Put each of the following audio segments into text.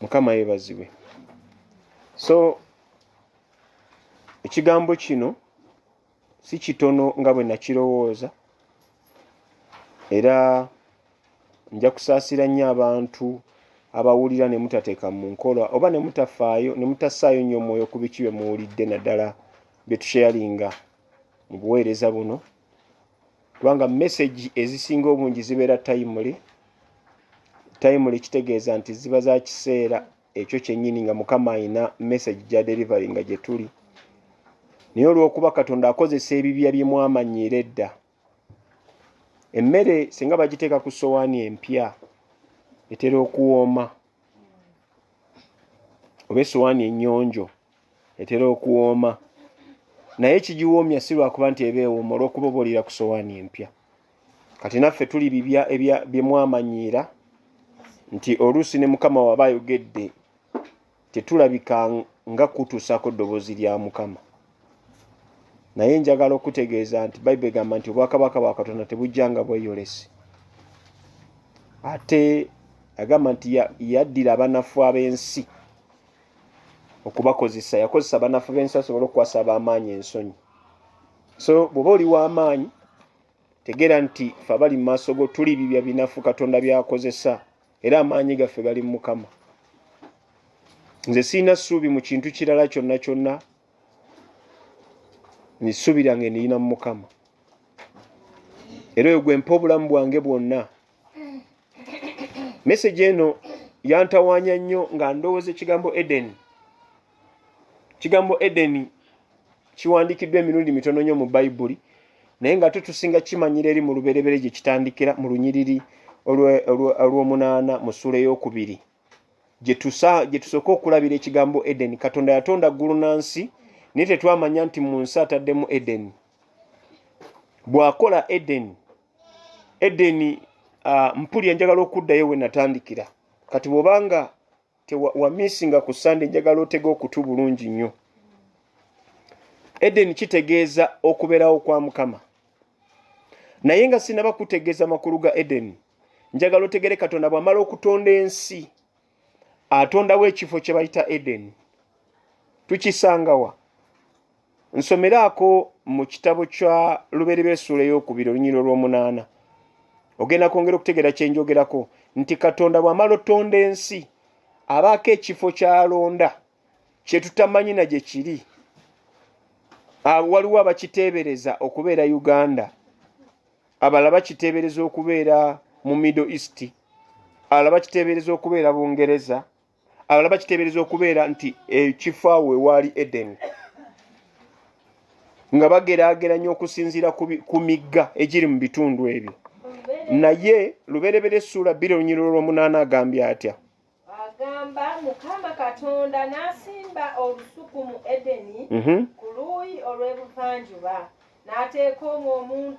mukama yebazibwe so ekigambo kino si kitono nga bwe nakirowooza era nja kusaasira nnyo abantu abawulira ne mutateeka mu nkola oba ne mutafaayo ne mutassaayo nnyo omwoyo ku biki bye muwulidde naddala bye tusheyalinga mu buweereza buno kubanga message ezisinga obungi zibeera timely timely kitegeeza nti ziba za kiseera ekyo kyennyini nga mukama alina message gya delivery nga gye tuli naye olw'okuba katonda akozesa ebibya bye mwamanyiira edda emmere singa bagiteeka ku sowaani empya etera okuwooma oba esowaani ennyonjo etera okuwooma naye kigiwoomya si lwakuba nti eba ewooma olwokuba oba oliira ku sowaani empya kati naffe tuli bibya byemwamanyiira nti oluusi ne mukama waba ayogedde tetulabika nga kutuusaako ddoboozi lya mukama naye njagala okutegeeza nti bayibuli egamba nti obwakabaka bwa katonda tebujja nga bweyolesi ate agamba nti yaddira abanafu ab'ensi okubakozesa yakozesa banafu bensi asobole okukwasa abamaanyi ensonyi so bwoba oli wamaanyi tegera nti fe abali mumaaso go tuli bibya binafu katonda byakozesa era amaanyi gaffe gali mumukama nze sirina ssuubi mu kintu kirala kyonna kyonna nisuubira nga eniyina mumukama era oyo gwempa obulamu bwange bwonna message eno yantawanya nnyo nga ndowooza ekigambo edeni ekigambo edeni kiwandiikiddwa emirundi mitono nnyo mu bayibuli naye nga tutusinga kimanyira eri mu lubereberye gye kitandikira mu lunyiriri olw'omunaana mu ssuula ey'okubiri gye tusooka okulabira ekigambo edeni katonda yatonda ggulu na nsi naye tetwamanya nti mu nsi ataddemu edeni bw'akola edeni edeni uh, mpulira njagala okuddayo we natandikira kati bwobanga wamisinga ku sande njagala otega okutu bulungi nnyo edeni kitegeeza okubeerawo kwa mukama naye nga sinaba kutegeeza makulu ga edeni njagala otegere katonda bwamala okutonda ensi atondawo ekifo kye bayita edeni tukisangawa nsomeraako mu kitabo kya lubeereba esuula ey'okubiri olunyiro lw'omunaana ogenda kwongera okutegeera kye njogerako nti katonda bw'amala otonda ensi abaako ekifo ky'alonda kye tutamanyi na gye kiri waliwo abakiteebereza okubeera uganda abala bakiteebereza okubeera mu middle east ala bakiteebereza okubeera bungereza abalala bakiteebereza okubeera nti ekifo awo ewaali edeni nga bageraageranya okusinziira ku migga egiri mu bitundu ebyo naye luberebera essuula bbiri olunyiro olwomunaana agambye atya agamba mukama katonda n'asimba olusuku mu edeni mhm. ku luuyi olw'ebuvanjuba n'ateeka omwo omuntu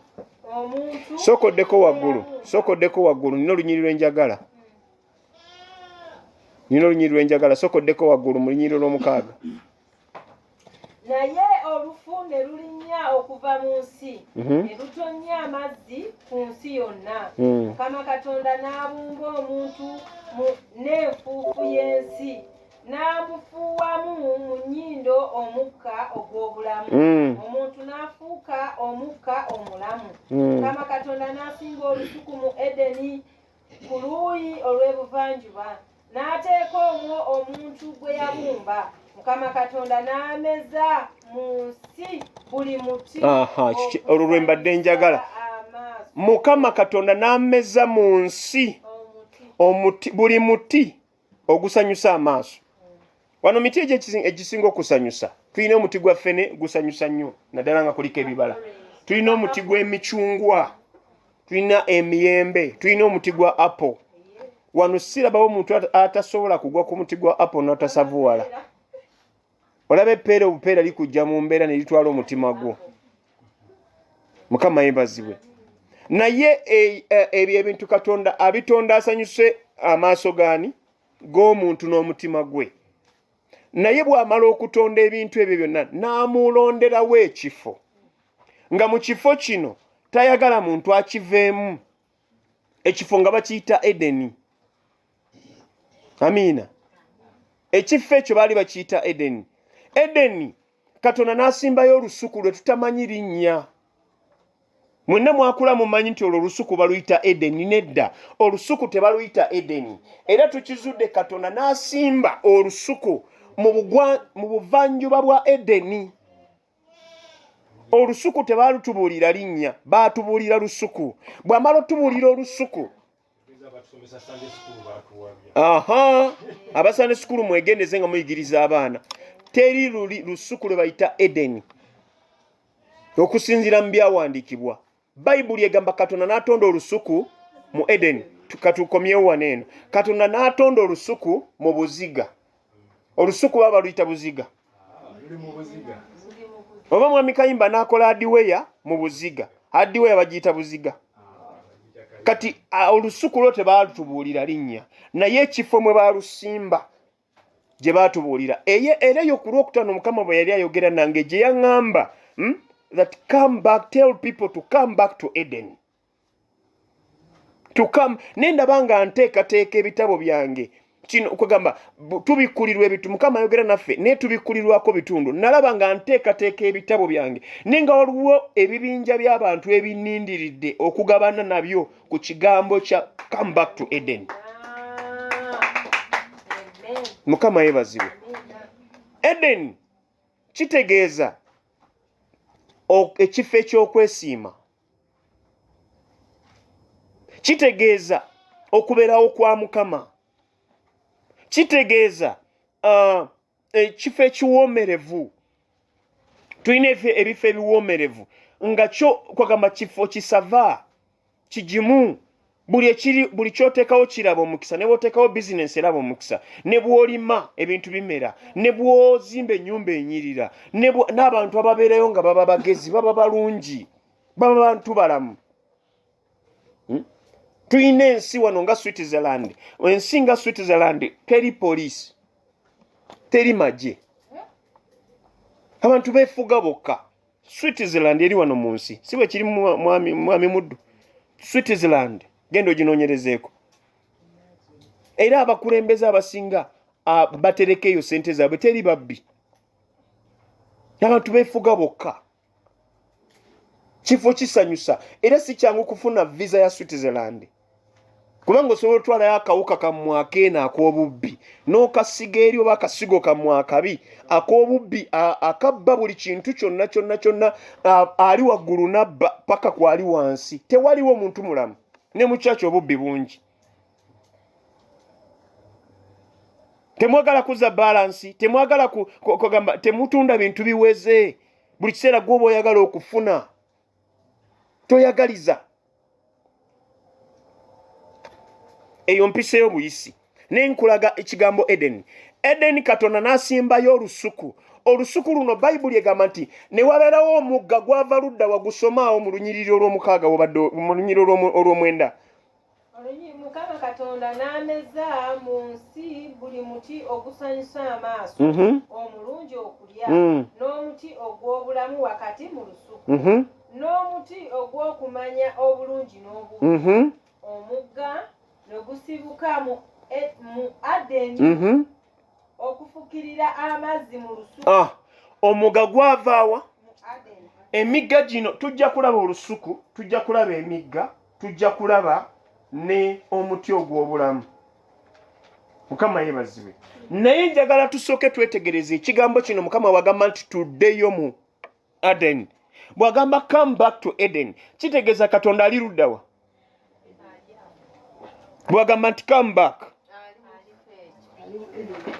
omuntu sokoddeko waggulu sokoddeko waggulu nina olunyiriro enjagala nina olunyiri lwenjagala sokoddeko waggulu mu lunyiri olwomukaaga naye olufu ne lulinnya okuva mu nsi mhm. ne lutonnya amazzi ku nsi yonna mm. mukama katonda n'abumba omuntu n'enfuufu y'ensi n'amufuuwamu mu nnyindo omukka ogw'obulamu mm. omuntu n'afuuka omukka omulamu mm. mukama katonda n'asinga olusuku mu edeni ku luuyi olw'ebuvanjuba n'ateeka omwo omuntu gwe yabumba mukama katonda n'ameza mu nsi buli muti olwo lwe mbadde njagala mukama katonda n'ameza mu nsi buli muti ogusanyusa amaaso wano miti egyo egisinga okusanyusa tulina omuti gwa ffene gusanyusa nnyo naddala nga kuliko ebibala tulina omuti gw'emicungwa tulina emiyembe tulina omuti gwa apple wano sirabawo omuntu atasobola kugwa ku muti gwa apple n'otasavuwala olaba epeera obupeera likujja mu mbeera ne litwala omutima gwo mukama yebazibwe naye e, e, ebyo ebintu katonda abitonda asanyuse amaaso gaani g'omuntu n'omutima gwe naye bw'amala okutonda ebintu ebyo byonna n'amuulonderawo ekifo nga mu kifo kino tayagala muntu akiveemu ekifo nga bakiyita edeni amiina ekifo ekyo baali bakiyita edeni edeni katonda n'asimbayo olusuku lwe tutamanyi linnya mwenna mwakula mumanyi nti olwo olusuku baluyita edeni nedda olusuku tebaluyita edeni era tukizudde katonda n'asimba olusuku mu buvanjuba bwa edeni olusuku tebalutubuulira linnya baatubuulira lusuku bw'amala otubuulira olusuku aha abasande sukulu mwegendeze nga muyigiriza abaana teri luli lusuku lwe bayita edeni okusinziira mu byawandiikibwa bayibuli egamba katonda n'atonda olusuku mu edeni katukomyewo wano eno katonda n'atonda olusuku mu buziga olusuku baba baluyita buziga oba mwami kayimba n'akola adiweya mu buziga adiweya bagiyita buziga kati olusuku lwo tebaalutubuulira linnya naye ekifo mwe baalusimba gye baatubuulira eye era eyo ku lwokutaano mukama bwe yali ayogera nange gye yaŋŋamba hmm, that come back tell people to come back to eden to come ne ndaba nga nteekateeka ebitabo byange kino kwegamba tubikkulirwa ebitu mukama ayogera naffe naye tubikkulirwako bitundu nalaba nga nteekateeka ebitabo byange naye nga waliwo ebibinja by'abantu ebinindiridde okugabana nabyo ku kigambo kya come back to eden mukama yebazibwe eden kitegeeza ekifo eky'okwesiima kitegeeza okubeerawo kwa mukama kitegeeza uh, ekifo ekiwoomerevu tulina ebifo ebiwoomerevu nga kyo kwagamba kifo kisava kigimu buli ekiri buli kyoteekawo kiraba omukisa ne bwoteekawo bizinensi eraba omukisa ne bwolima ebintu bimera ne bwozimba ennyumba enyirira n'abantu ababeerayo nga baba bagezi baba balungi baba bantu balamu hmm? tulina ensi wano nga switzerland ensi nga switzerland teri poliisi teri magye abantu befuga bokka switzerland eri wano mu nsi si bwe kiri mwami muddu switzerland genda oginoonyerezeeko era abakulembeze abasinga batereka eyo sente zaabwe teri babbi abantu befuga bokka kifo kisanyusa era si kyangu kufuna visa ya switzerland kubanga osobola otwalayo akawuka kammwe akeeno ak'obubbi n'okasiga eri oba akasigo kammwe akabi ak'obubbi akabba buli kintu kyonna kyonna kyonna ali waggulu nabba paka kwali wansi tewaliwo omuntu mulamu ne mukyaki obubbi bungi temwagala kuza balansi temwagala kugamba temutunda bintu biweze buli kiseera gwoba oyagala okufuna toyagaliza eyo mpisa ey'obuyisi naye nkulaga ekigambo edeni edeni katonda n'asimbayo olusuku olusuku luno bayibuli egamba nti ne wabeerawo omugga gwava ludda wagusomaawo mu lunyiriri olw'omukaaga wobadde mu lunyiriri olw'omwenda mukama katonda n'ameza mu nsi buli muti ogusanyusa amaaso mhm. omulungi okulya mm. n'omuti ogw'obulamu wakati mu lusuku mhm. n'omuti ogw'okumanya obulungi n'obubi mhm. omugga ne gusibuka mu e, adeni okufukirira amazzi mu lusuku ah, omugga gwavaawa emigga gino tujja kulaba olusuku tujja kulaba emigga tujja kulaba ne omuti ogw'obulamu mukama yebazibwe naye njagala tusooke twetegereze ekigambo kino mukama wagamba nti tuddeyo mu aden bwagamba come back to eden kitegeeza katonda ali luddawa bwagamba nti come back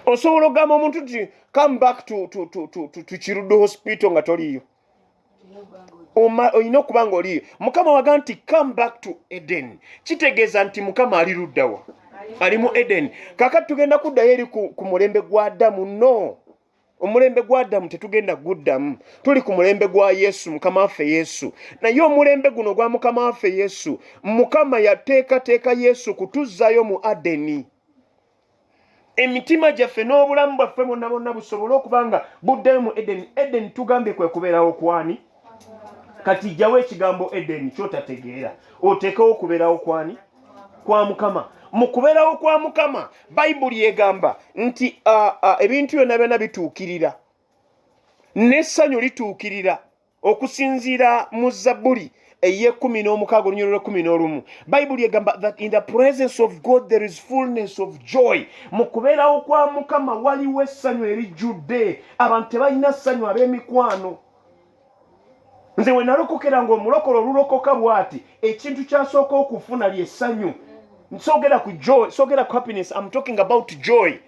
osobola okugamba omuntu nti come back to, to, to, to, to, to kirudo hospital nga toliyo olina okuba nga oliyo mukama waga nti come back to eden kitegeeza nti mukama ali luddawa ali mu eden kakati tugenda kuddayo eri ku mulembe gwa adamu no omulembe gwa adamu tetugenda guddamu tuli ku mulembe gwa yesu mukama waffe yesu naye omulembe guno gwa mukama waffe yesu mukama yateekateeka yesu kutuzzayo mu adeni emitima gyaffe n'obulamu bwaffe bonna bonna busobole okuba nga buddayo mu edeni edeni tugambye kwe kubeerawo kwani kati jjawo ekigambo edeni kyotategeera oteekewo okubeerawo kwani kwa mukama mu kubeerawo kwa mukama bayibuli egamba nti ebintu byonna byonna bituukirira n'essanyu lituukirira okusinziira mu zabbuli eyekumi n'omukaaga olunyolo lwekumi n'olumu bayibuli egamba that in the presence of god there is fullness of joy mu kubeerawo kwa mukama waliwo essanyu erijjudde abantu tebalina ssanyu ab'emikwano nze we nalokokera ng'omulokolo olulokoka bw'ati ekintu kyasooka okufuna lyessanyu nsogera ku joy sogera ku happiness am talking about joy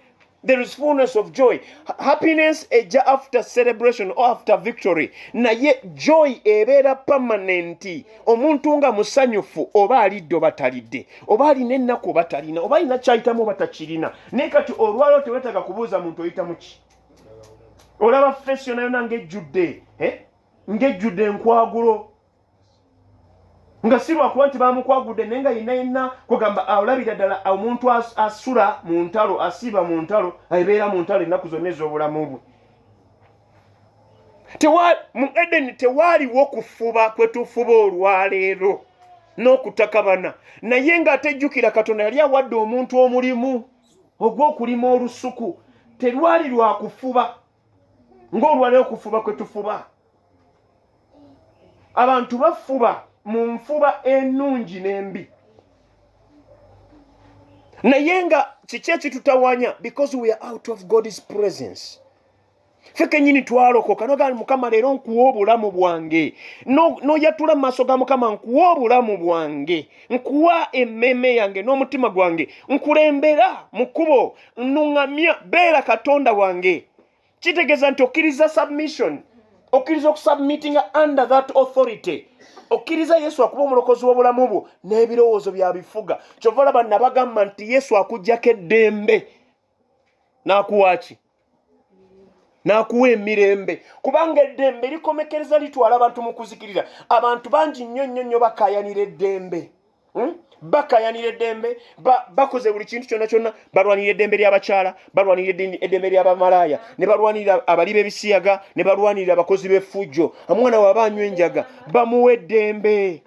there is fullness of joy happiness eja after celebration or after victory naye joy ebeera pamanenti omuntu nga musanyufu oba alidde oba talidde oba alina ennaku oba talina oba alina kyayitamu oba takirina naye kati olwaliro tewetaga kubuuza muntu oyitamuki olaba fesi yona yona ngaejjudde eh? ngaejjudde enkwagulo nga si lwakuba nti bamukwagudde naye nga yenna yenna kwegamba olabira ddala omuntu asula mu ntalo asiiba mu ntalo ebeera mu ntalo ennaku zonna ez'obulamu bwe mu edeni tewaaliwo kufuba kwe tufuba olwaleero n'okutakabana naye ng'atejjukira katonda yali awadde omuntu omulimu ogw'okulima olusuku terwali lwakufuba ng'olwaleero kufuba kwe tufuba abantu bafuba mu nfuba ennungi n'embi naye nga kiki ekitutawanya because we are out of god's presence fe kenyini twalokoka nogaa mukama leero nkuwa obulamu bwange noyatula mu maaso ga mukama nkuwa obulamu bwange nkuwa emmeeme yange n'omutima gwange nkulembera mu kkubo nnuŋŋamya beera katonda wange kitegeeza nti okkiriza submission okkiriza okusubmittinga under that authority okkiriza yesu akuba omulokozi w'obulamu bwo n'ebirowoozo bya bifuga kyova olaba nabagamba nti yesu akuggyako eddembe n'akuwaaki n'akuwa emirembe kubanga eddembe likomekereza litwala abantu mu kuzikirira abantu bangi nnyo nnyo nnyo bakayanira eddembe Hmm? bakayanira eddembe bakoze buli kintu kyonna kyonna balwanira eddembe ly'abakyala balwanira eddembe ly'abamalaaya ne balwanira abali b'ebisiyaga ne balwanira abakozi b'effujjo omwana waaba anywa enjaga bamuwa eddembe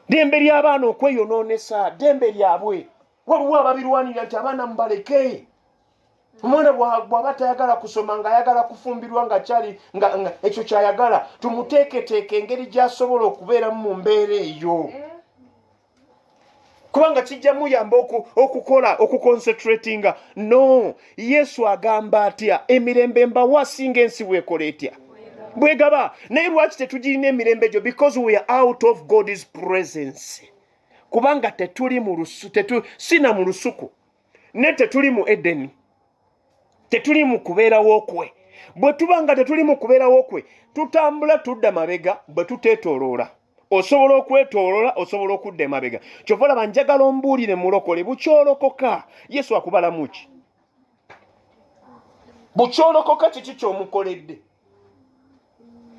ddembe ly'abaana okweyonoonesa ddembe lyabwe waliwo ababirwanira nti abaana mubaleke omwana bwaba tayagala kusoma nga ayagala kufumbirwa nga kyali nga ekyo kyayagala tumuteeketeeka engeri gyasobola okubeeramu mu mbeera eyo kubanga kijja muyamba okukola okukoncentratinga no yesu agamba atya emirembe mbawa singa ensi bwekola etya bwegaba naye lwaki tetugirina emirembe egyo because we are out of god's presence kubanga tetuli mu lusu tetu sina mu lusuku naye tetuli mu edeni tetuli mu kubeerawo kwe bwe tuba nga tetuli mu kubeerawo kwe tutambula tudda mabega bwe tuteetooloola osobola okwetoolola osobola okudda emabega kyova laba njagala ombuulire mulokole bukyolokoka yesu akubalamu ki bukyolokoka kiki kyomukoledde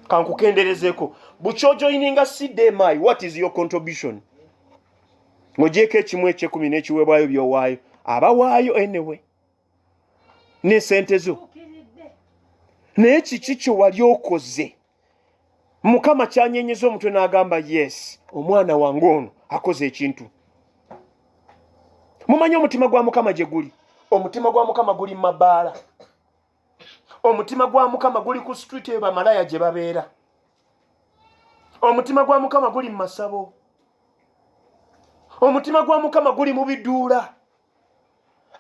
kankukenderezeeko bukyojoininga cdmi what is your contribution ng'ogyeko ekimu ekyekumi n'ekiweebwayo byowaayo abawaayo anyway n'esente zo naye kiki kye wali okoze mukama kyanyenyeza omutwe n'agamba yes omwana wange ono akoze ekintu mumanyi omutima gwa mukama gye guli omutima gwa mukama guli mu mabaala omutima gwa mukama guli ku street eyo bamalaya gye babeera omutima gwa mukama guli mu masabo omutima gwa mukama guli mu biduula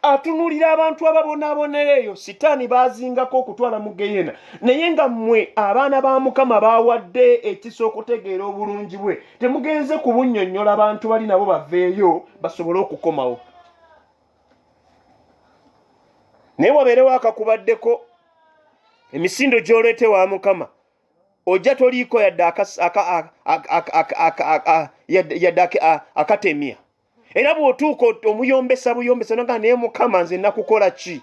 atunulira abantu ababonaabonera eyo sitaani baazingako okutwala mu geyena naye nga mmwe abaana ba mukama baawadde ekisa okutegeera obulungi bwe temugenze ku bunnyonnyola abantu bali nabo baveeyo basobole okukomawo naye wabeerewo akakubaddeko emisindo gy'oleete wa mukama ojja toliiko yadde akatemya era bw'otuuka omuyombesa buyombesa noga naye mukama nze nakukola ki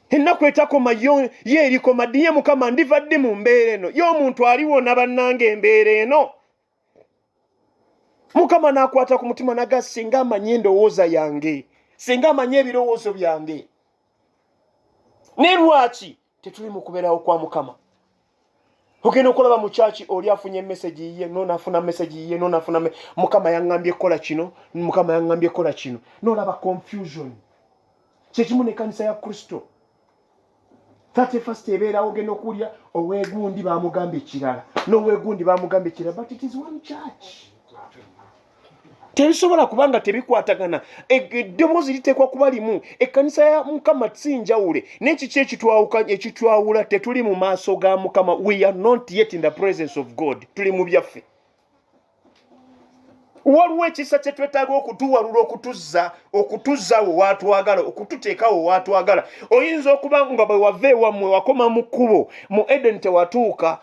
ennaku etakoma yo ye erikoma ddiye mukama ndiva ddi mu mbeera eno ye omuntu aliwona bannanga embeera eno mukama n'akwata ku mutima naga singa amanyi endowooza yange singa amanyi ebirowoozo byange ne lwaki tetuli mu kubeerawo kwa mukama ogenda okulaba mu kyaki oli afunye mesagi yiye nonafuna mesagi yiye nonafuna mukama yaŋambye kukola kino mukama yaŋambye kukola kino nolaba confusion kyekimu nekanisa ya kristo thirty first ebeerawo ogenda okuwulira owegundi bamugamba ekirala nowegundi bamugamba ekirala but it is one church tebisobola kuba nga tebikwatagana e, e, eddoboozi liteekwa kuba limu ekkanisa ya mukama si njawule nekiki ekitwawula tetuli mu maaso ga mukama we are not yet in the presence of god tuli mu byaffe waliwo ekisa kye twetaaga okutuwalula okutuzza okutuzza we waatwagala okututeeka we waatwagala oyinza okuba nga bwe wava ewammwe wakoma mu kkubo mu edeni tewatuuka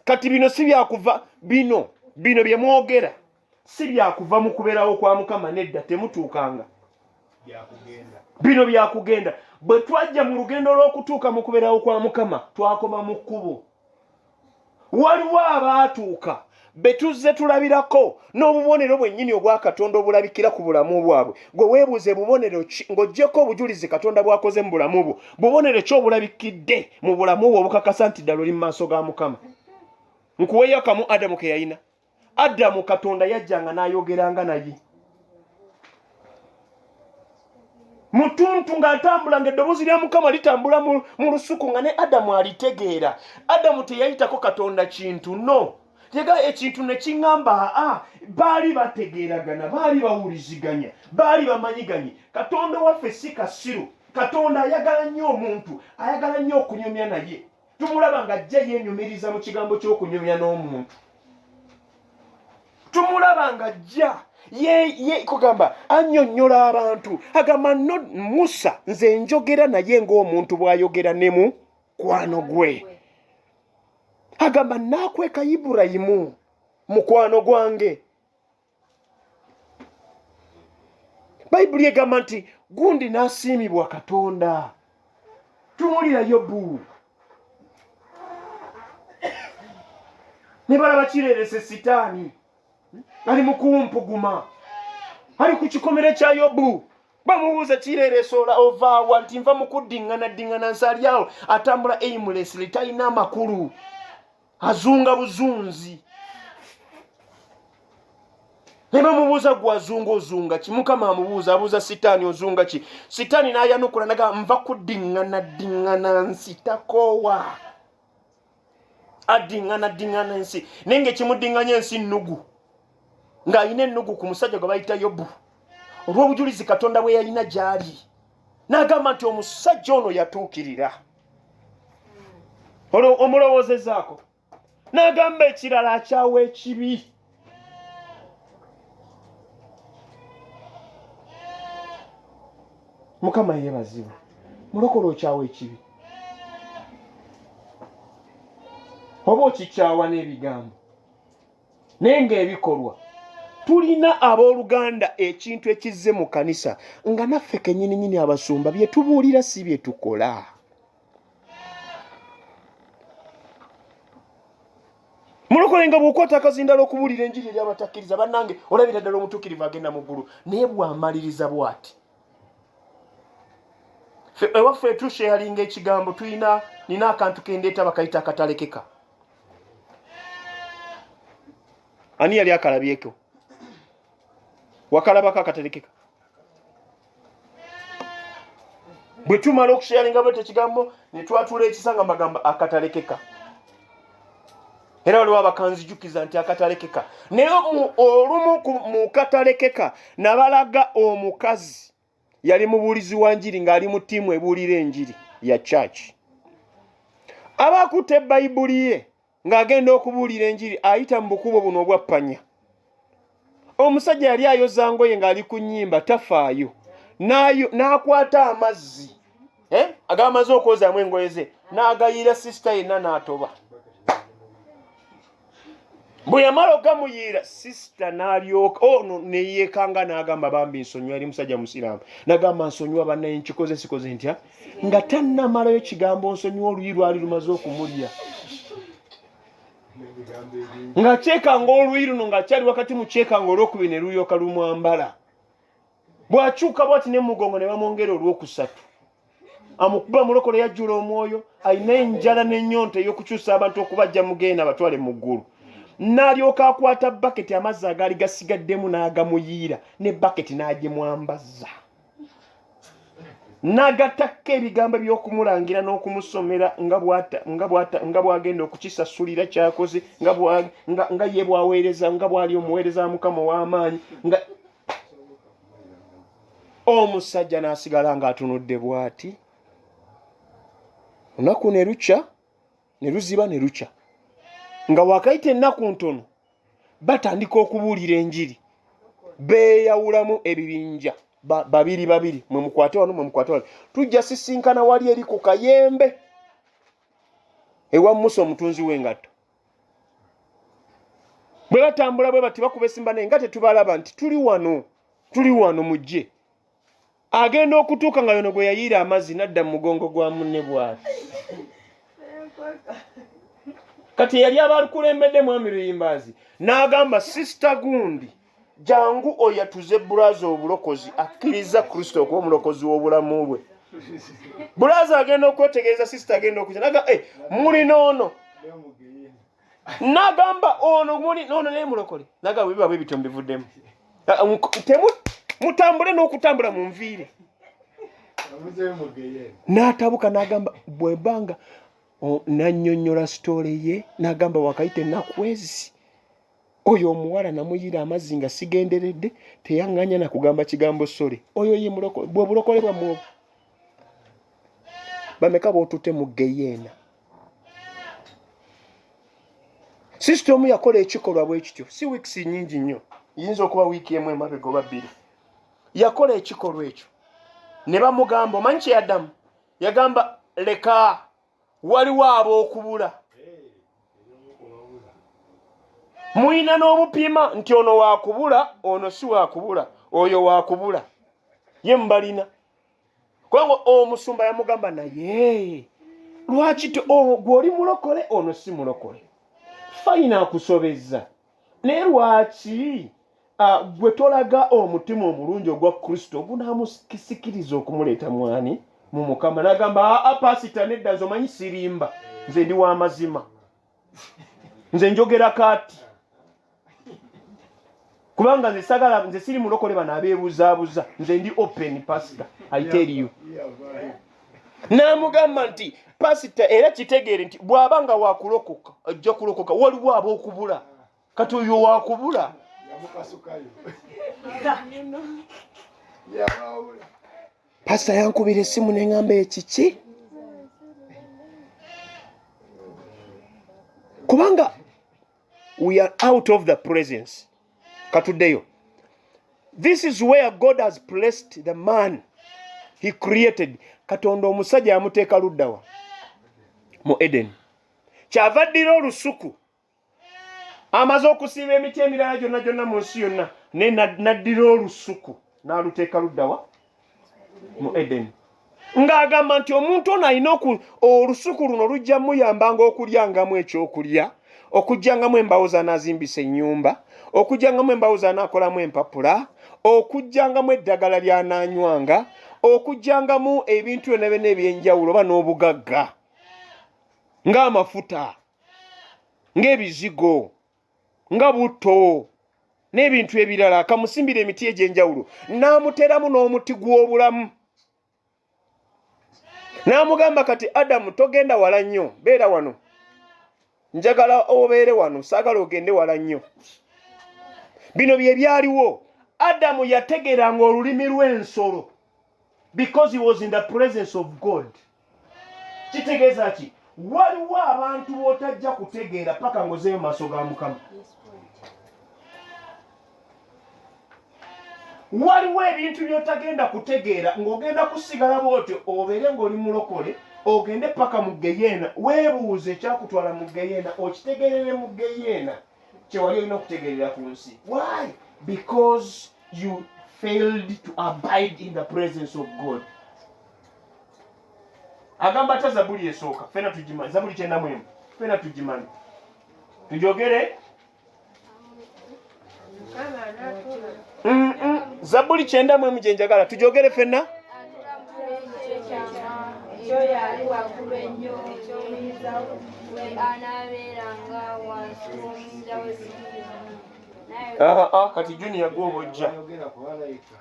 kati bino si byakuva bino bino bye mwogera si byakuva mu kubeerawo kwa mukama nedda temutuukanga bino byakugenda bwe twajja mu lugendo lw'okutuuka mu kubeerawo kwa mukama twakoma mu kkubo waliwo abaatuuka betuzze tulabirako n'obubonero bwennyini obwa katonda obulabikira ku bulamu bwabwe gwe weebuuze bubonero ki ng'ogyeko obujulizi katonda bwakoze mu bulamu bwo bubonero ki obulabikidde mu bulamu bwo obukakasa nti ddala oli mu maaso ga mukama nkuweyo kamu adamu ke yalina adamu katonda yajjanga n'ayogeranga naye mutuntu ng'atambula ng'eddoboozi lya mukama litambula mu lusuku nga ne adamu alitegeera adamu teyayitako katonda kintu no tega ekintu ne kiŋŋamba aa baali bategeeragana baali bawuliziganya baali bamanyiganye katonda waffe si kasiru katonda ayagala nnyo omuntu ayagala nnyo okunyumya naye tumulaba nga ajja yenyumiriza mu kigambo ky'okunyumya n'omuntu tumulaba nga ajja kugamba annyonnyola abantu agamba no musa nze njogera naye ng'omuntu bw'ayogera ne mu kwano gwe agamba naakweka iburayimu mukwano gwange bayibuli egamba nti gundi n'asiimibwa katonda tumulira yobu ne balaba kireerese sitaani ali mu kumpuguma ali ku kikomere kya yobu bamubuuza kireerese ola ovaawa nti nva mu kuddiŋŋana ddiŋŋana nsalyawo atambula aimulesly talina amakulu azunga buzunzi ne bamubuuza gwe azunga ozunga ki mukama amubuuza abuuza sitaani ozunga ki sitaani n'ayanukula naga nva kudiŋŋana diŋŋana nsi takoowa adiŋŋana diŋŋana ensi naye ngaekimudiŋŋanya ensi nnugu ng'alina ennugu ku musajja gwe bayita yobu olw'obujulizi katonda bwe yalina gy'ali n'agamba nti omusajja ono yatuukirira olwo omulowoozezaako n'agamba ekirala akyawa ekibi mukama yeebazibwe mulokola okyawa ekibi oba okikyawa n'ebigambo naye ng'ebikolwa tulina abooluganda ekintu ekizze mu kanisa nga naffe kenyininyini abasumba bye tubuulira si bye tukola mulokole nga bwokwata akazindala okubuulira enjiri eri abatakkiriza bannange olabira ddala omutuukirivu agenda mu ggulu naye bwamaliriza bwati ewaffe etushe yalinga ekigambo tulina nina akantu kendeeta bakayita akatalekeka ani yali akalabyeko wakalabako akaterekeka bwe tumala okusharinga bwete ekigambo ne twatula ekisa nga magambo akatalekeka era waliwo abakanzijukiza nti akatalekeka naye olumu mu katalekeka nabalaga omukazi yali mubuulizi wa njiri ng'ali mu ttiimu ebuulira enjiri ya church aba akutte bayibuli ye ng'agenda okubuulira enjiri ayita mu bukubo buno obwappanya omusajja yali ayoza ngoye ng'ali ku nnyimba tafaayo n'akwata amazzi eh, agamaze okwozaamu engoye ze n'agayira sisita yenna n'atoba bwe yamala ogamuyiira sisita n'alyoka ono oh, neyeekanga n'agamba bambi nsonyiwa eri musajja musiraamu nagamba nsonyiwa banaye nkikoze sikoze ntya nga tannamalayo kigambo nsonyiwa oluyi lwali lumaze okumulya nga kyekanga oluyi luno nga kyali wakati mu kyekanga olwokubiri ne lulyoka lumwambala bw'akyuka bwati ne mugongo ne bamwongera olwokusatu amukuba mulokole yajjula omwoyo alina enjala n'ennyonta ey'okukyusa abantu okubajja mugenda abatwale mu ggulu n'alyoka akwata baketi amazzi agaali gasigaddemu n'agamuyiira ne baketi n'agimwambazza n'agatakka ebigambo by'okumulangira n'okumusomera nga bw'agenda okukisasulira kyakoze nga ye bwaweereza nga bw'ali omuweereza mukama ow'amaanyi omusajja n'asigala ng'atunudde bw'ati lunaku ne lukya ne luziba ne lukya nga wakayita ennaku ntono batandika okubuulira enjiri beeyawulamu ebibinja babiri babiri mwe mukwate wano mwe mukwate wano tujja sisinkana wali eri ku kayembe ewa musa omutunzi w'engatto bwe batambula bwe bati bakuba esimba naye nga tetubalaba nti tuli wano tuli wano mujje agenda okutuuka nga yono gwe yayiira amazzi nadda mu mugongo gwa munne bwati kati eyali abakulembedde mwami luyimbaazi n'agamba sisita gundi jangu oyatuze bulaza obulokozi akkiriza kristo okuba omulokozi w'obulamu bwe bulaza agenda okwetegereza sisita agenda okuja naga eh, mulina ono nagamba ono muli nono naye mulokole naga biba bwebityo mbivuddemu ah, mutambule n'okutambula mu nviire n'atabuka n'agamba bwebanga nanyonyola sitole ye n'agamba wakayita enaku ezi oyo omuwala namuyira amazzi nga sigenderedde teyaŋŋanya na kugamba kigambo sole oyo ye mulokole bwe bulokole bwamu obwo bameka bootutte mu geyeena sisita omu yakola ekikolwa bwe kityo si wiikisi nnyingi nnyo yinza okuba wiiki emu emabega oba bbiri yakola ekikolwa ekyo ne bamugamba omanyi kyeyaddamu yagamba leka waliwo ab'okubula mulina n'obupiima nti ono wakubula ono si wakubula oyo wakubula ye mubalina kubanga omusumba yamugamba naye lwaki oh, gwe oli mulokole ono si mulokole fayina akusobezza naye lwaki ah, gwe tolaga omutima omulungi ogwa kristo ogunamusikiriza okumuleeta mwani mu mukama nagamba aa ah, ah, pasita nedda nze omanyi sirimba nze ndi wamazima nze njogera kati kubanga nze sagala nze siri mulokole bano abebuzabuza nze ndi open pasita i tell you n'amugamba nti pasita era kitegeere nti bw'aba nga wakulokoka ajja kulokoka waliwo ab'okubula kati oyo wakubula pasita yankubira essimu neŋamba ekiki kubanga we are out of the presence katudeyo this is where god has placed the man he created katonda omusajja yamuteeka luddawa mu eden kyava ddira olusuku amaze okusiiba emiti emirala gyonna gyonna mu nsi yonna naye naddira olusuku n'aluteeka luddawa mu edeni ng'agamba nti omuntu ono alina olusuku luno lujja muyambanga okulyangamu ekyokulya okujjangamu embawo zanazimbisa ennyumba okujjangamu embawo zanakolamu empapula okujjangamu eddagala lyananywanga okujjangamu ebintu byona byona ebyenjawulo oba n'obugagga ng'amafuta ng'ebizigo nga butto n'ebintu ebirala akamusimbira emiti egy'enjawulo n'amuteramu n'omuti gw'obulamu n'amugamba kati adamu togenda wala nnyo beera wano njagala obeere wano saagala ogende wala nnyo bino bye byaliwo adamu yategeranga olulimi lw'ensolo because he was in the presence of god kitegeeza ki waliwo abantu b'otajja kutegeera paka ngozeeyo maaso ga mukama waliwo ebintu by'otagenda kutegeera ng'ogenda kusigala bwotyo obeere ng'oli mulokole ogende paka mu geyeena weebuuze ekyakutwala mu geyeena okitegerere mu geyeena kyewali olina okutegerera ku nsi why because you failed to abide in the presence of god agamba ta zabuli esooka fena tugimanyi zabuli kyenda mwemu fena tugimanyi tujogere zabuli kyenda mwemu gyenjagala tujogere fena kati junior gwobojja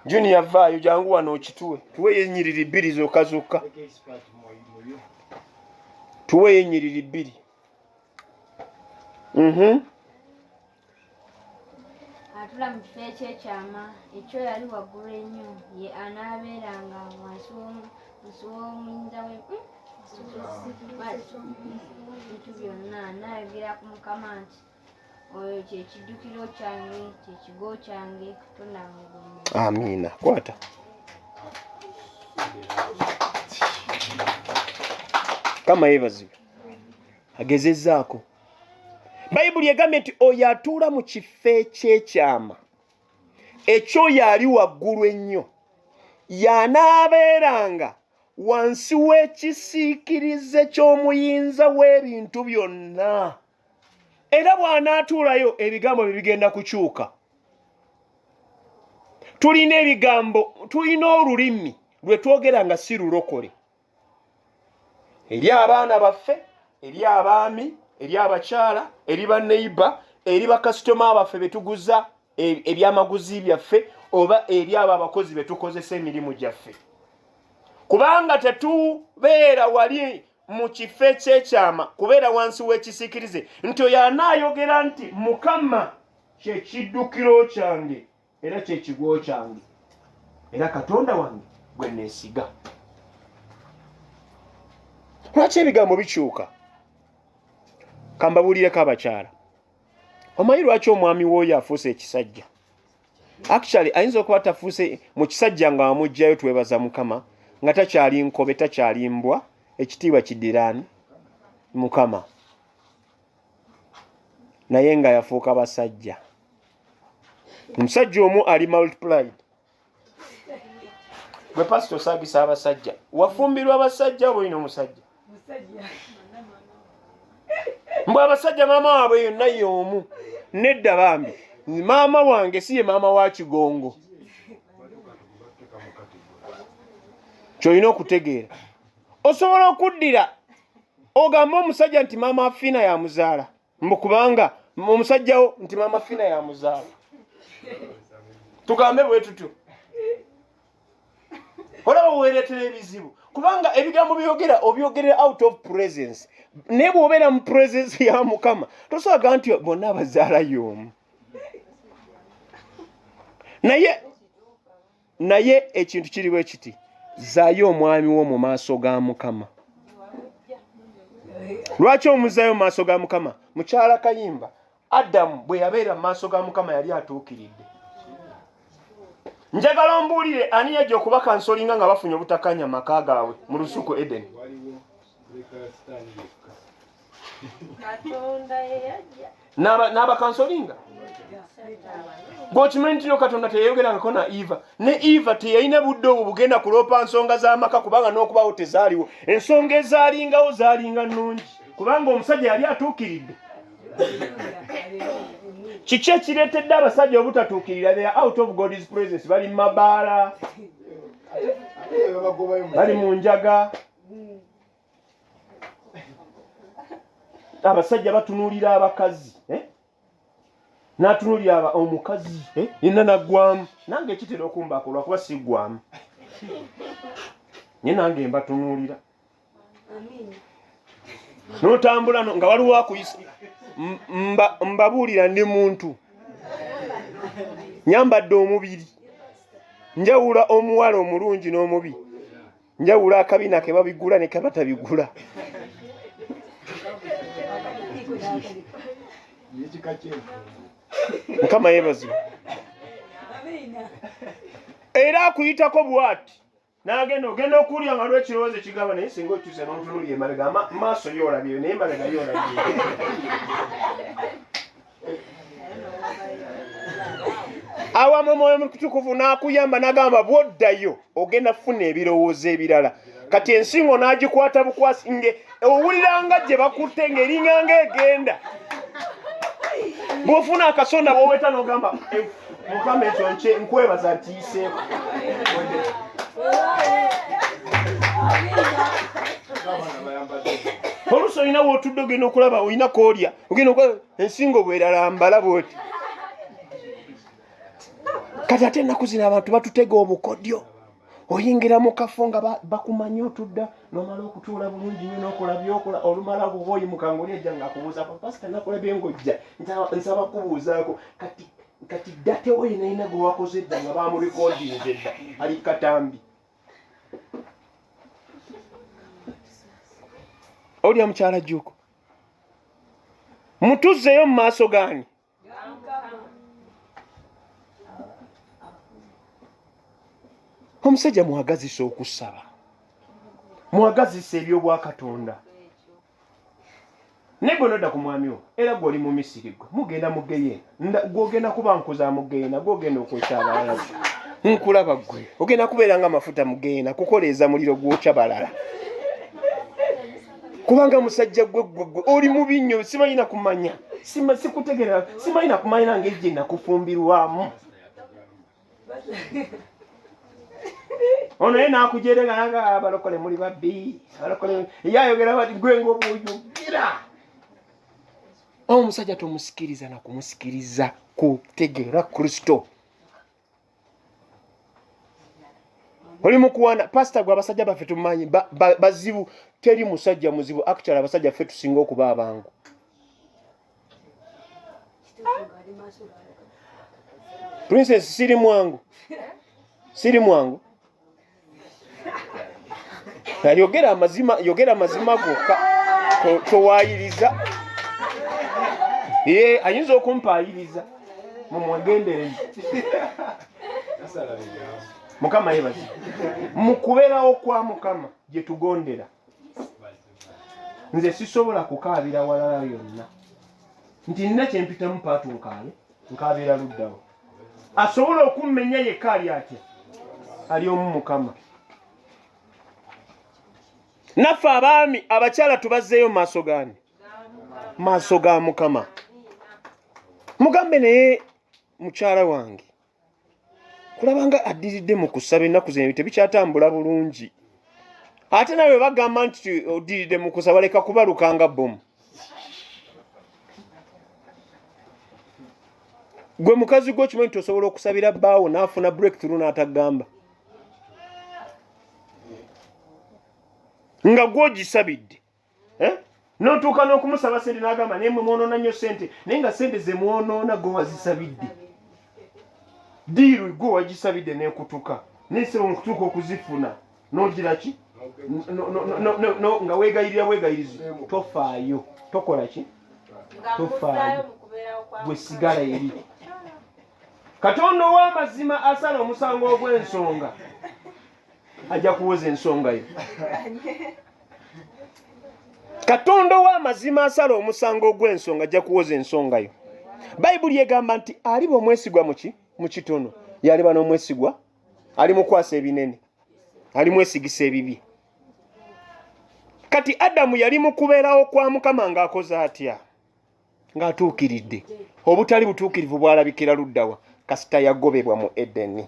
junior vaayo jangu wano okituwe tuweyo enyiriri bbiri zokka zokka tuweyo enyiriri bbiri mhm. atula mu kifo ekyekyama ekyo yali waggulu ennyo ye anaabeeranga wansi w'omuyinza we hmm? bintu byonna anaayogera ku mukama nti oyo kyekiddukiro kyange kyekigo kyange katonda amiina kwata kama yebazibu agezezaako bayibuli egambye nti oyo atuula mu kifo ekyekyama ekyoyo ali waggulu ennyo yanaabeeranga wansi w'ekisiikirize ky'omuyinza w'ebintu byonna era bw'anaatuulayo ebigambo bye bigenda kukyuka tulina ebigambo tulina olulimi lwe twogera nga si lulokole eri abaana baffe eri abaami eri abakyala eri baneiba eri bakasitoma baffe be tuguza e, ebyamaguzi byaffe oba eri abo abakozi be tukozesa emirimu gyaffe kubanga tetubeera wali mu kifo ekyekyama kubeera wansi w'ekisiikirize nti oyo anaayogera nti mukama kyekiddukiro kyange era kyekigwo kyange era katonda wange gwe neesiga lwaki ebigambo bikyuka kambabuulireko abakyala omanyi lwaki omwami wooyo afuuse ekisajja actually ayinza okuba tafuuse mu kisajja nga wamugjayo twebaza mukama nga takyali nkobe takyali mbwa ekitiibwa kidirani mukama naye nga yafuuka basajja omusajja omu ali multiplied gwe pasita osagisa abasajja wafumbirwa abasajja oba olina omusajja mbu abasajja maama waabwe yonna yoomu nedda bambi maama wange si ye maama wa kigongo kyolina okutegeera osobola okuddira ogamba omusajja nti maama fiina yamuzaala mbu kubanga omusajjawo nti maama fina yamuzaala tugambe bwe tutyo olaba weeretera ebizibu kubanga ebigambo byogera obyogerera out of presence naye bwobeera mu presence ya mukama tosaga nti bonna abazaala yoomu naye naye ekintu kiri bwe kiti zaayo omwami wo mu maaso ga mukama lwaki omuzayo mu maaso ga mukama mukyala kayimba adamu bwe yabeera mu maaso ga mukama yali atuukiridde njagala ombuulire ani yajja okuba kansolinga nga bafunye obutakanya maka gaabwe mu lusuku edeni n'abakansolinga gwokimanyi ntino katonda teyayogerangako na eva ne eva teyalina budde obwo bugenda kuloopa nsonga z'amaka kubanga n'okubawo tezaaliwo ensonga ezaalingawo zaalinga nnungi kubanga omusajja yali atuukiridde kiki ekireetedde abasajja obutatuukirira they are out of god's presence bali mu mabaala bali mu njaga abasajja batunuulira abakazi eh? natunuulira omukazi eh? yenna naggwamu nange ekitera okumbako lwakuba siggwamu nye nange mbatunuulira notambula nga waliwo akuyisa mbabuulira ndi muntu nyambadde omubiri njawula omuwala omulungi n'omubi njawulo akabina ke babigula ne ke batabigula mukama yebazibu era akuyitako bwati nagenda ogenda okuwulira nga lwe kirowoozo ekigamba naye singa okyuse n'otunulya emabega maaso yoolabire naye emabega yoolabire awamu omwoyo mutukuvu n'akuyamba n'agamba bw'oddayo ogenda kufuna ebirowoozo ebirala kati ensingo n'agikwata bukwasi nge owuliranga gye bakutte ng'eringanga egenda bw'ofuna akasonda bwoweta n'ogamba eh, mukama ekyo nky nkwebaza ntiyiseeko oluusi olina wootudde ogenda okulaba olina koolya ogenda okola ensingo bweralambala bwoti kati ate ennaku zino abantu batutega obukodyo oyingira mu kafo nga bakumanyi otudda nomala okutuula bulungi nyo nokola byokola olumala kuba oyimuka ngaoli ejja nga akubuuzako pasita nakola byengojja nsaba kubuuzaako kati kati datewo yenayina gwewakoze edda nga bamurekodinze edda ali katambi olya mukyala juuko mutuzzeyo mu maaso gaani omusajja mwagazisa okusaba mwagazisa ebyobwakatonda naye gwe nodda ku mwami wo era gwe oli mu misiri gwe mugenda mu geyeena gwogenda kuba nkuza mugenda gwogenda okwesa abalala nkulaba gwe ogenda kubeera nga amafuta mugenda kukoleeza muliro gwokya balala kubanga musajja gwe gwegwe oli mubi nnyo simanyi nakumanya sikutegerera simanyi nakumanya nange gye nakufumbirwamu ono ye nakujere nga nanga abalokole muli babbi abalokole ye ayogera bati gwe ngaobwoyogera omusajja tomusikiriza na kumusikiriza kutegeera kristo oli mukuwana pasita gwe abasajja baffe tumanyi bazibu teri musajja muzibu actual abasajja ffe tusinga okuba abangu princess siri mwangu siri mwangu yogera amazima yogera amazima gokka towaayiriza ye ayinza okumpaayiriza mumwegendereze mukama yebazi mu kubeerawo kwa mukama gye tugondera nze sisobola kukaabira walala yonna nti nina kyempitamu paatu nkaale nkaabira luddawo asobola okummenya yekka ali atya ali omu mukama naffe abaami abakyala tubazzeeyo maaso gani maaso ga mukama mugambe naye mukyala wange kulabanga addiridde mu kusaba ennaku zino tebikyatambula bulungi ate nawe bagamba nti oddiridde mu kusaba leka kubalukanga bomu gwe mukazi gwe okimanyi nti osobola okusabira bbaawo n'afuna breakthrough n'atagamba nga gwogisabidde eh? notuuka n'okumusaba sente n'agamba naye mwe mwonoona nnyo sente naye nga sente ze mwonoona gwe wazisabidde diiru gwe wagisabidde nekutuka naye sebo mukutuuka okuzifuna nogira ki nga wegayirira bwegayirizi tofaayo tokola ki tofaayo gwe sigala eri katonda ow'amazima asala omusango ogw'ensonga ajja kuwoza ensonga yo katonda ow'amazima asala omusango ogw'ensonga ajja kuwoza ensonga yo bayibuli egamba nti aliba omwesigwa muki mu kitono yaliba n'omwesigwa ali mukwasa ebinene ali mwesigisa ebibye kati adamu yali mukubeerawo kwa mukama ng'akoze atya ng'atuukiridde obutali butuukirivu bwalabikira luddawa kasita yagobebwa mu edeni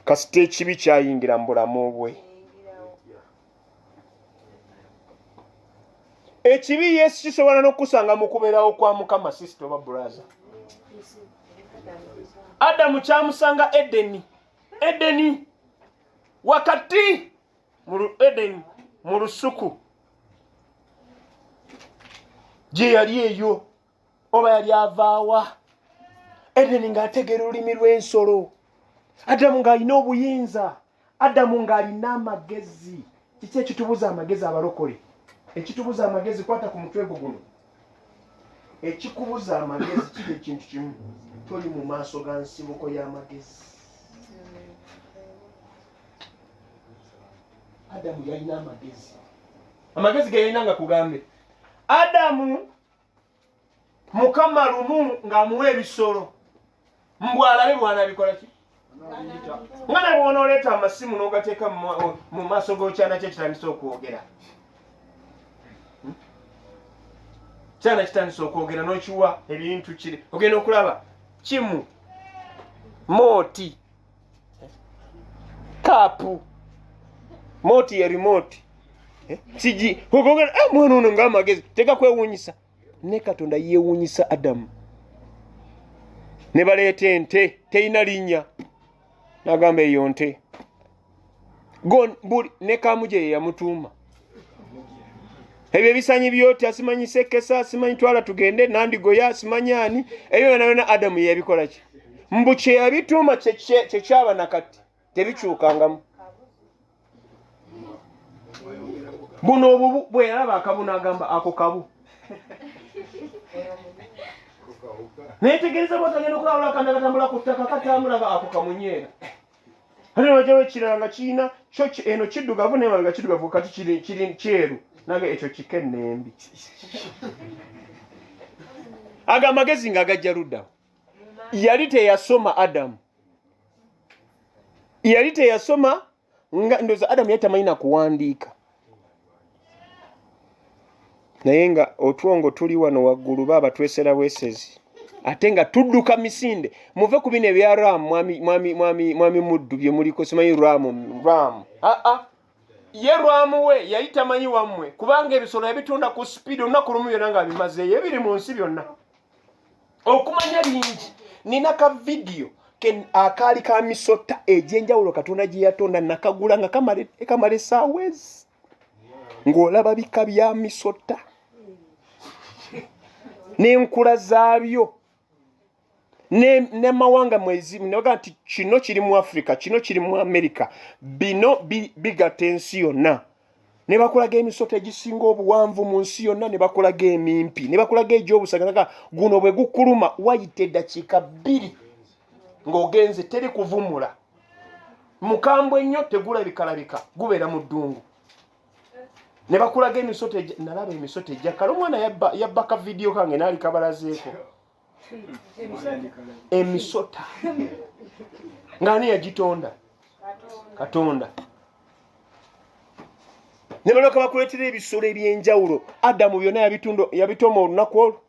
kasita ekibi kyayingira mu bulamu bwe ekibi yesu kisobola n'okukusanga mu kubeerawo kwa mukama sisita oba bulaza adamu kyamusanga edeni edeni wakati mu edeni mu lusuku gye yali eyo oba yali avaawa edeni ng'ategeera olulimi lw'ensolo adamu ng'alina obuyinza adamu ng'alina amagezi kiki ekitubuza amagezi abalokole ekitubuza amagezi kwata ku mutwe gwo guno ekikubuza amagezi kiri ekintu kimu toli mu maaso ga nsibuko y'amagezi adamu yalina amagezi amagezi geyalina nga kugambe adamu mukama lumu ng'amuwa ebisolo mbu alabe bwanabikola ki nga ne bwonooleeta amasimu n'ogateeka mu maaso g'okyana kye kitandisa okwogera hmm? kyana kitandisa okwogera n'okiwa ebintu kiri ogenda okulaba kimu mooti kapu moti ya remote eh? kiki ogogera eh, mwana ono nga amagezi teka kwewunyisa ne katonda yewunyisa adamu ne baleeta ente terina linnya nagamba eyo nte buli ne kamuje yeyamutuuma ebyo ebisanyi byotya simanyi sekesa simanyi twala tugende nandigoya simanyi ani ebyo byona byona adamu yeyabikolaki mbu kyeyabituuma kyekyaba nakati tebikyukangamu buno obubu bweyalaba akabu nagamba ako kabu netegereza bwatagenda okulawula kandakatambula ku ttaka katambula nga ako kamunyeera ate wajawo ekirala nga kirina kyo eno kiddugavu naye nga kiddugavu kati kiri kyeru nange ekyo kika ennembi ago amagezi nga agajja luddawo yali teyasoma adamu yali teyasoma nga ndoza adamu yali tamanyi nakuwandiika naye nga otwongo tuli wano waggulu baaba twesera bwesezi ate nga tudduka misinde muve ku bino ebya ram mwami muddu bye muliko simanyi ram ram aa ye rwamu we yali tamanyi wammwe kubanga ebisolo yabitunda ku sipiidi olunaku lumu byonna ng'abimazeeyo ebiri mu nsi byonna okumanya bingi nina ka vidiyo akaali ka misota egyenjawulo katonda gye yatonda nakagula nga kamala esaawezi ng'olaba bika bya misota n'enkula zaabyo nemawanga mwezimu nebaga nti kino kiri mu africa kino kiri mu america bino bigata ensi yonna ne bakulaga emisota egisinga obuwanvu mu nsi yonna ne bakulaga emimpi ne bakulaga egy'obusaganaga guno bwe gukuluma wayita eddakiika bbiri ng'ogenze teri kuvumula mukambwe nnyo tegulabikalabika gubeera mu ddungu ne bakulaga emisota nalaba emisota ejjakala omwana yabba ka vidiyo kange naali kabalazeeko emisota ngaani yagitonda katonda ne baloka bakuleetera ebisolo eby'enjawulo adamu byonna yabitoma olunaku olwo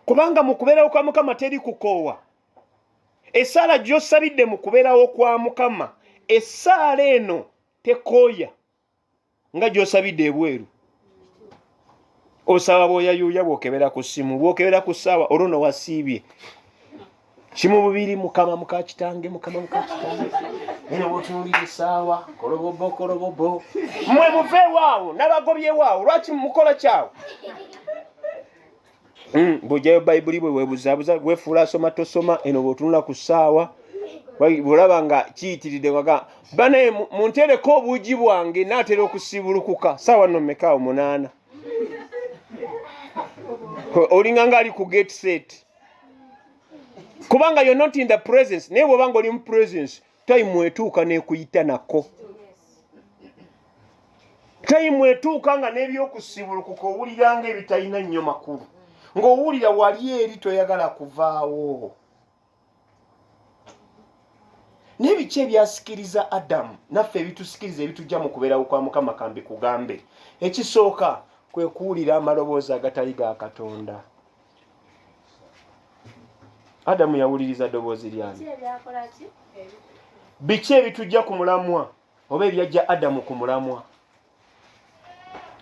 kubanga mu kubeerawo kwa mukama teri kukoowa esaala gyosabidde mu kubeerawo kwa mukama esaala eno tekooya nga gyosabidde ebweru osaba bwoyayuuya bwokebera ku ssimu bwokebera ku ssaawa olwo no wasiibye kimu bubiri mukama mukakitange mukama mukakitange eno bwotunulira essaawa kolobobo kolobobo mwe muveewaawo nabagobyewaawo lwaki mukola kyawo Mm, bw'oggyayo bayibuli bwe weebuzaabuza weefuula asoma tosoma eno bw'otunula ku ssaawa bw'olaba nga kiyitiridde waga banaye muntereko obuugi bwange naatera okusiibulukuka ssaawa no meka omunaana olinga ngaali ku gate set kubanga yo not in the presence naye bw'oba nga oli mu presence tayimu etuuka n'ekuyita nako tayimu etuuka nga n'ebyokusibulukuka owulira nga ebitalina nnyo makulu ng'owulira wali eri toyagala kuvaawo naye biki ebyasikiriza adamu naffe ebitusikiriza ebitujja mu kubeerawo kwa mukama kambi kugambe ekisooka kwe kuwulira amaloboozi agatali ga katonda adamu yawuliriza ddoboozi lyani biki ebitujja ku mulamwa oba ebyajja adamu ku mulamwa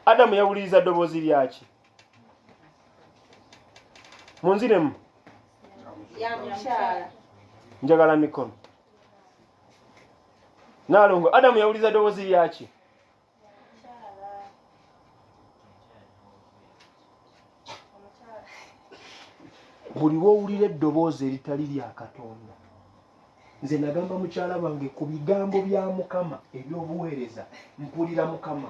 adamu yawuliriza ddoboozi lyaki munziremu njagala mikono nalongo adamu yawuliriza ddoboozi lyaki buli lwowulira eddoboozi eritali lya katonda nze nagamba mukyala wange ku bigambo bya mukama ebyobuweereza mpulira mukama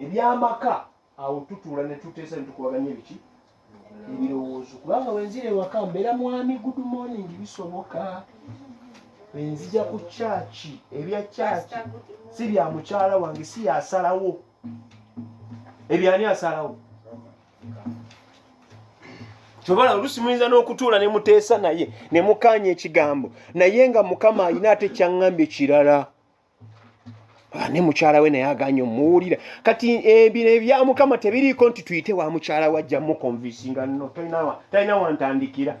ebyamaka awo tutuula ne tuteesa ne tukubaganya ebiki ebirowoozo kubanga wenzira ewaka mbeera mwami good morning bisoboka wenzija ku kyaki ebya kyaki si bya mukyala wange si yasalawo ebyani asalawo kyobola oluusi muyinza n'okutuula ne muteesa naye ne mukaanya ekigambo naye nga mukama alina ate kyaŋŋambye kirala ah, ne mukyala we naye aganye omuwulira kati ebino eh, ebya mukama tebiriiko nti tuyite wa mukyala we ajja mukonvisinga no talina wantandikira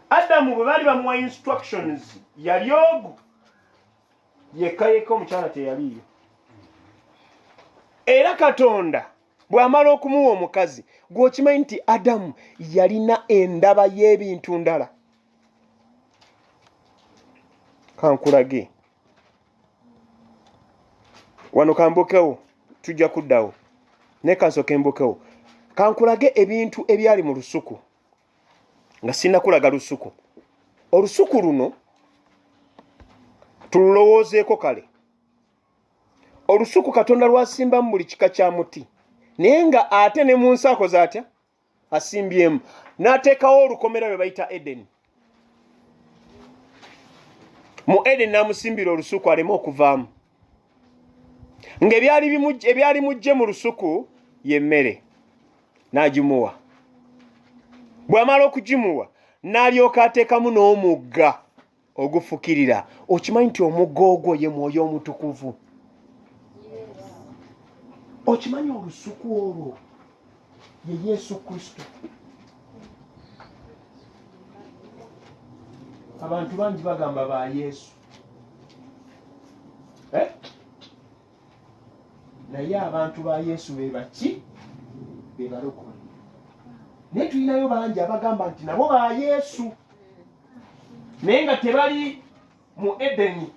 adamu bwe baali bamuwa instructions yali ogu yekka yekka omukyala teyaliiyo era katonda bw'amala okumuwa omukazi gweokimanyi nti adamu yalina endaba y'ebintu ndala kankulage wano kambukewo tujja kuddawo naye kansooke mbukewo kankulage ebintu ebyali mu lusuku nga sinakulaga lusuku olusuku luno tululowoozeeko kale olusuku katonda lwasimbamu buli kika kya muti naye nga ate ne mu nsi akoze atya asimbyemu n'ateekawo olukomera lwe bayita edeni mu edeni n'amusimbira olusuku aleme okuvaamu ng'ebyali mujje mu lusuku y'emmere n'agimuwa bw'amala okugimuwa n'alyoka ateekamu n'omugga ogufukirira okimanyi nti omugga ogwo ye mwoyo omutukuvu okimanyi olusuku olwo ye yesu kristo abantu bangi bagamba ba yesu eh? naye abantu ba yesu bebaki bebalokole naye tulinayo bangi abagamba nti nabo ba yesu naye nga tebali mu edeni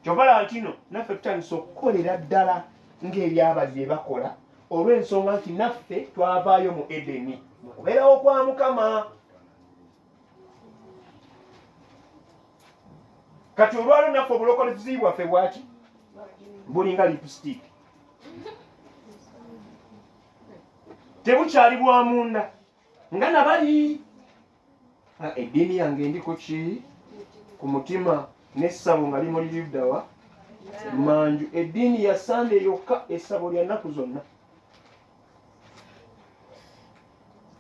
kyovala ntino naffe tutandisa okukolera ddala ngaebyabali byebakola olwensonga nti naffe twavaayo mu edeni mukubeerawo kwa mukama kati olwalo naffe obulokozi bwaffe bwaki bulinga lipstick tebukyali bwa munda nga nabali ah, eddiini yange ndiko ki ku mutima n'essabo nga limuli liddawa manju eddiini ya sande yokka essabo lya nnaku zonna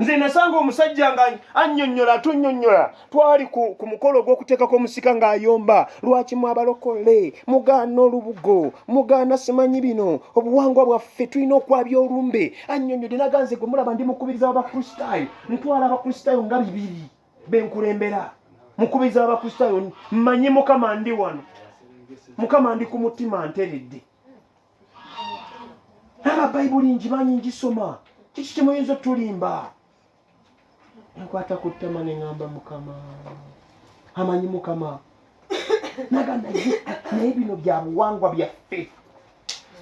nze nasanga omusajja nga annyonnyola atunyonnyola twali ku, ku mukolo ogw'okuteekako omusika ng'ayomba lwaki mwabalokole mugaana olubugo mugaana simanyi bino obuwangwa bwaffe tulina okwabya olumbe annyonnyode naganze gwe mulaba ndi mukubiriza wabakristaayo ntwala abakristaayo nga bibiri benkulembera mukubiriza wabakristaayo mmanyi mukama ndi wano mukama ndi ku mutima nteredde aba bayibuli ngimanyi ngisoma kiki kimuyinza otulimba enkwata ku ttama ne ŋamba mukama amanyi mukama naga naye naye bino bya buwangwa byaffe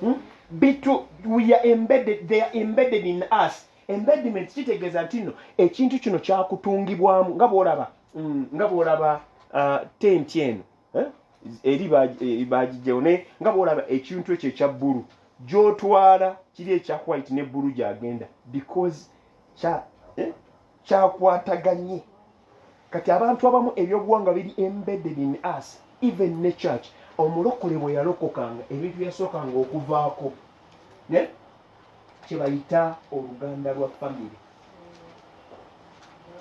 hmm? bitu we are embedded they are embedded in us embediment kitegeeza nti no ekintu kino kyakutungibwamu nga bwolaba mm, nga bwolaba uh, tenti eno eh? eri eh, bagijjawo naye nga bwolaba ekintu ekyo ekya bbulu gyotwala kiri ekya white ne bbulu gyagenda because eh, kyakwataganye kati abantu abamu ebyobuwanga biri embedded in us even ne church omulokole bwe yalokokanga ebintu yasookanga okuvaako kyebayita oluganda lwa famiry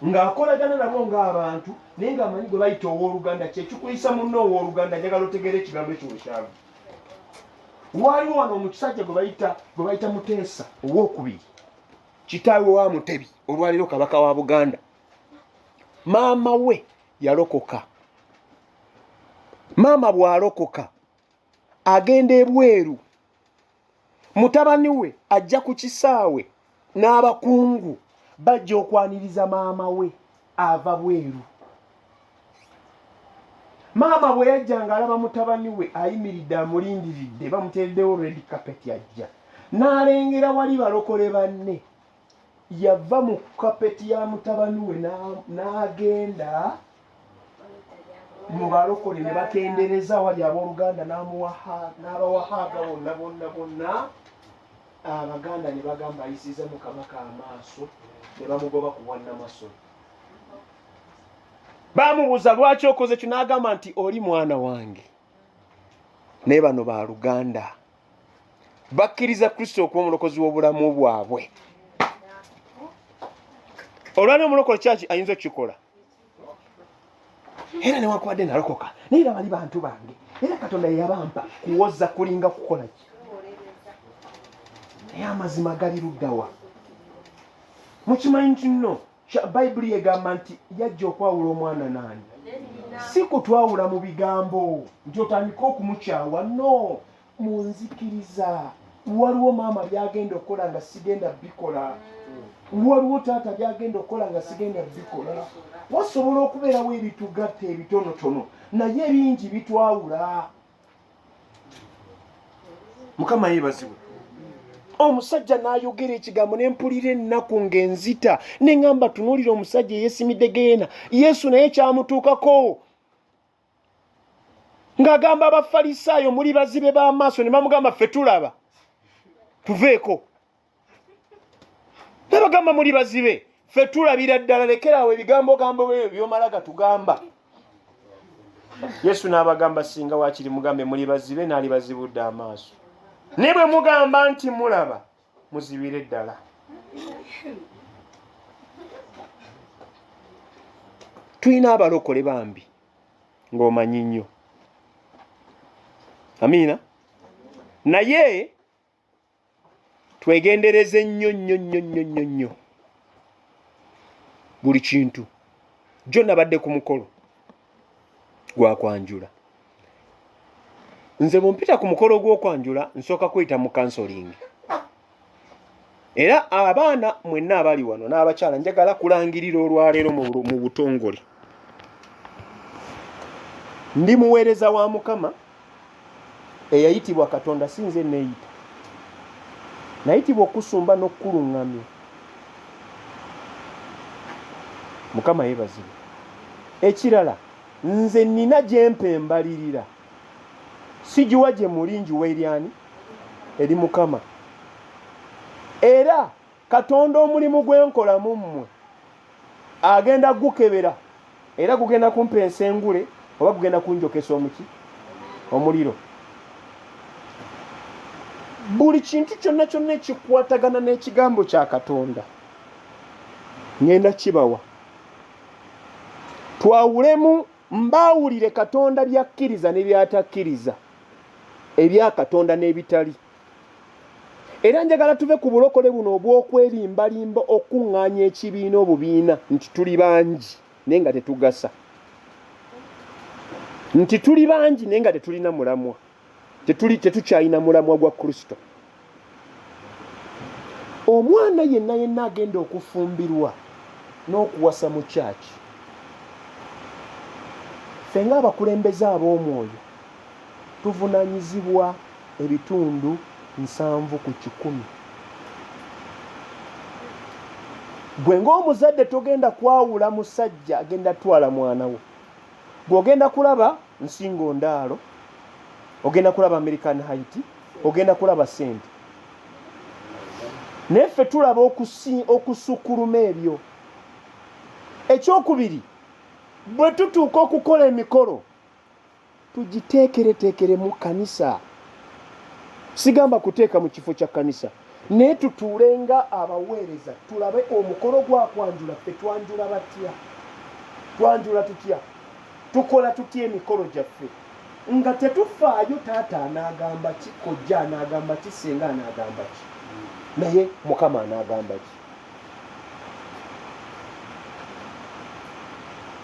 ng'akolagana nabo ng'abantu naye ng'amanyi gwe bayita ow'oluganda kyekikuyisa munna ow'oluganda njagala otegeera ekigambo ekyo wekyavu waaliwo wano omukisajja gwe bayita gwe bayita muteesa ow'okubiri kitaawe wa mutebi olwaliro kabaka wa buganda maama we yalokoka maama bw'alokoka agenda ebweru mutabani we ajja ku kisaawe n'abakungu bajja okwaniriza maama we ava bweru maama bwe yajja ng'alaba mutabani we ayimiridde amulindiridde bamuteereddewo red carpet ajja n'alengera wali balokole banne yava mu kapeti ya mutabani we n'agenda mu balokole ne batendereza wali abooluganda n'abawahaaga bonna bonna bonna abaganda ne bagamba ayisiza mu kabaka amaaso ne bamugoba ku bwannamasolo baamubuuza lwaki okoze ekyo n'agamba nti oli mwana wange naye bano ba luganda bakkiriza kristo okuba omulokozi w'obulamu bwabwe olwali omulokole kyaki ayinza okukikola era newakubadde nalokoka naye era bali bantu bange era katonda yeyabampa kuwoza kulinga kukola ki naye amazima gali luddawa mukimanyi nti no bayibuli egamba nti yajja okwawula omwana naani si kutwawula mu bigambo nti otandike okumukyawa no mu nzikiriza waliwo maama byagenda okukola nga sigenda bikola waliwo taata byagenda okukola nga sigenda bikola wasobola okubeerawo ebitugatta ebitonotono naye ebingi bitwawula mukama yebazibwe omusajja nayogera ekigambo nempulira ennaku ngaenzita neŋamba tunuulira omusajja eyesimidde geena yesu naye kyamutuukako ng'agamba abafalisaayo muli bazibe b'amaaso ne bamugamba ffe tulaba tuveeko bebagamba muli bazibe fe tulabira ddala lekeraawo ebigambo gambo byo byomala gatugamba yesu n'abagamba singa wakiri mugambe muli bazibe naali bazibudde amaaso ne bwe mugamba nti mulaba muzibire ddala tulina abalokole bambi ng'omanyi nnyo amiina naye twegendereze nnyo nnyo nnyo nnyo nnyo nnyo buli kintu jjo nabadde ku mukolo gwakwanjula nze bwempita ku mukolo gw'okwanjula nsooka kuyita mu kansolingi era abaana mwenna abali wano n'abakyala njagala kulangirira olwaleero mu butongole ndi muweereza wa mukama eyayitibwa katonda si nze neeyita nayitibwa okusumba n'okukuluŋŋamya mukama yeebazibwe ekirala nze nina gyempa embalirira sigiwa gye muli ngiwa eryani eri mukama era katonda omulimu gwenkola mu mmwe agenda gukebera era gugenda kumpa ensengule oba gugenda kunjokesa omuki omuliro buli kintu kyonna kyonna ekikwatagana n'ekigambo kya katonda ngenda kibawa twawulemu mbaawulire katonda byakkiriza ne byatakkiriza ebya katonda n'ebitali era njagala tuve ku bulokole buno obw'okwerimbalimba okukuŋŋaanya ekibiina obubiina nti tuli bangi naye nga tetugasa nti tuli bangi naye nga tetulina mulamwa tetuli tetukyalina mulamwa gwa kristo omwana yenna yenna agenda okufumbirwa n'okuwasa mu kyaki ffe ng'abakulembeze ab'omwoyo tuvunanyizibwa ebitundu nsanvu ku kikumi. Gwe ng'omuzadde togenda kwawula musajja agenda twala mwana wo. Gwe ogenda kulaba nsingo ndaalo, ogenda kulaba American Haiti, ogenda kulaba sente. Naye ffe tulaba okusukkuluma ebyo. Ekyokubiri bwe tutuuka okukola emikolo. tugiteekereteekere mu kkanisa sigamba kuteeka mu kifo kya kkanisa naye tutuule nga abaweereza tulabe omukolo gwa kwanjula ffe twanjula batya twanjula tutya tukola tutya emikolo gyaffe nga tetufaayo taata anaagamba ki kojja anaagamba ki senga anaagamba ki naye mukama anaagamba ki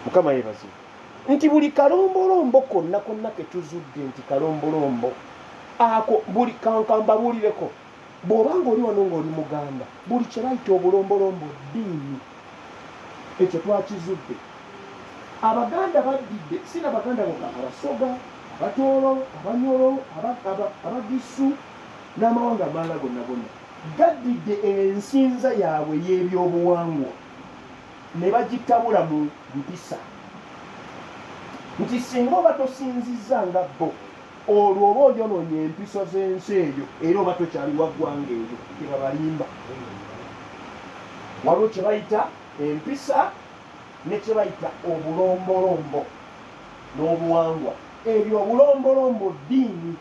mukama yebazibu nti buli kalombolombo konna konna ketuzudde nti kalombolombo ako buli kankambabuulireko bw'oba ng'oli wano ng'oli muganda buli kye bayita obulombolombo ddiini ekyo twakizudde abaganda baddidde si nabaganda boka abasoga abatoolo abanyolo abagisu n'amawanga amalala gonna gonna gaddidde ensinza yaabwe y'ebyobuwangwa ne bagitabula mu mpisa nti singa oba tosinzizza nga bo olwo oba oyonoonye empiso z'ensi eyo era oba tokyaliwa ggwanga eyo tebabalimba waliwo kye bayita empisa ne kye bayita obulombolombo n'obuwangwa ebyo obulombolombo ddiini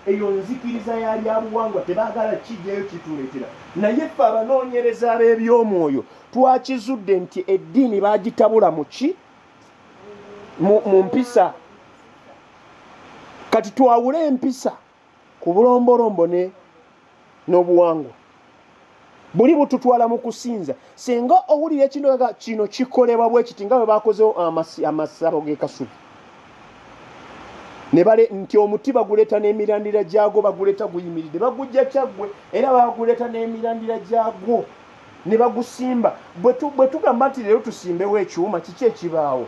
eyo nzikiriza yali abuwangwa tebaagala kijjayo kituleetera naye ffe abanoonyereza ab'eby'omwoyo twakizudde nti eddiini bagitabula muki mu mpisa kati twawule empisa ku bulombolombo ne n'obuwangwa buli bututwala mu kusinza singa owulira ekindoga kino kikolebwa bwe kiti nga bwe bakozewo amasabo g'ekasubi nebale nti omuti baguleeta n'emirandira gyagwo baguleeta guyimiridde bagujja kyaggwe era baguleeta n'emirandira gyagwo ne bagusimba bwe tugamba nti leero tusimbewo ekyuma kiki ekibaawo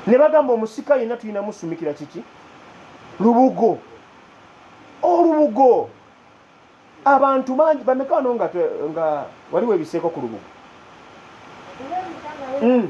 ne bagamba omusika yenna tulina musumikira kiki lubugo olubugo abantu bangi bameka wano nga waliwo ebiseeko ku lubugo hmm.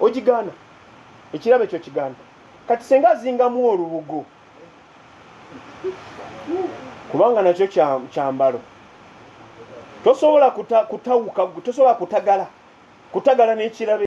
ogigaana ekirabo ekyo kigaana kati senga azingamu olubugo kubanga nakyo kyambalo tosobola kutawuka tosobola kutagala kutagala n'ekirabo